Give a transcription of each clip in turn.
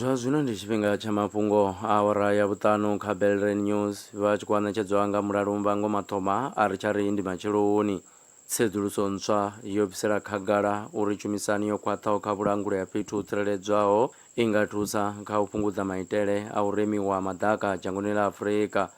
zwa zwino ndi tshifhinga tsha mafhungo a awara ya vhuṱanu kha belre news vha tshi khou anetshedzwa nga mulalumba ngo mathoma a ri tsha ri ndi matsheloni tsedzuluso ntswa yo bvisela khagala uri tshumisani yo khwaṱhaho kha vhulanguli ha fhethu ho tsireledzwaho i nga thusa kha u fhungudza maitele a u remiwa maḓaka dzhangoni ḽa afurika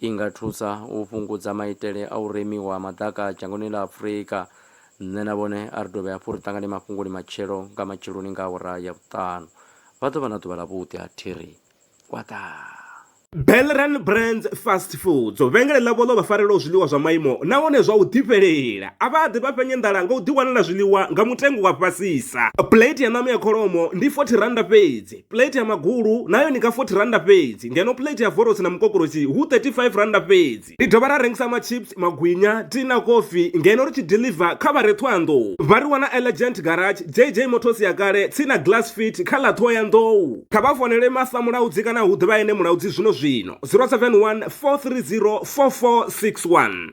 I nga thusa u fhungudza maitele a u remiwa ha maḓaka dzhangoni ḽa Afrika. Nṋe na vhone a ri dovhe hafhu ri ṱangane mafhungoni matshelo nga matsheloni nga awara ya vhuṱanu. Vha ḓo vha na ḓuvha ḽavhuḓi ha thiri kwaḓaa. Belran Brands Fast Foods, vhengele ḽavho ḽo vha farelaho zwiḽiwa zwa maimo nahone zwa u ḓifhelela. A vha ḓi vha fhenya nḓala nga u ḓiwanela zwiḽiwa nga mutengo wa fhasisa. Plate ya ṋama ya kholomo ndi R40 fhedzi. Plate ya magulu nayo ni ka 40 rannda fhedzi ngeno plate ya vorosi na mukokoroshi hu 35 rannda fhedzi. Ri dovha ra rengisa machips, magwinya, tea na kofi ngeno ri tshi diḽiva kha vha re Ṱhohoyanḓou. Vha ri wana Elegant Garage, JJ Motors ya kale tsini na Glass Fit kha ḽa Ṱhohoyanḓou. Kha vha founele Martha Mulaudzi kana hu ḓe vha ene Mulaudzi zwino-zwino, 071 430 4461.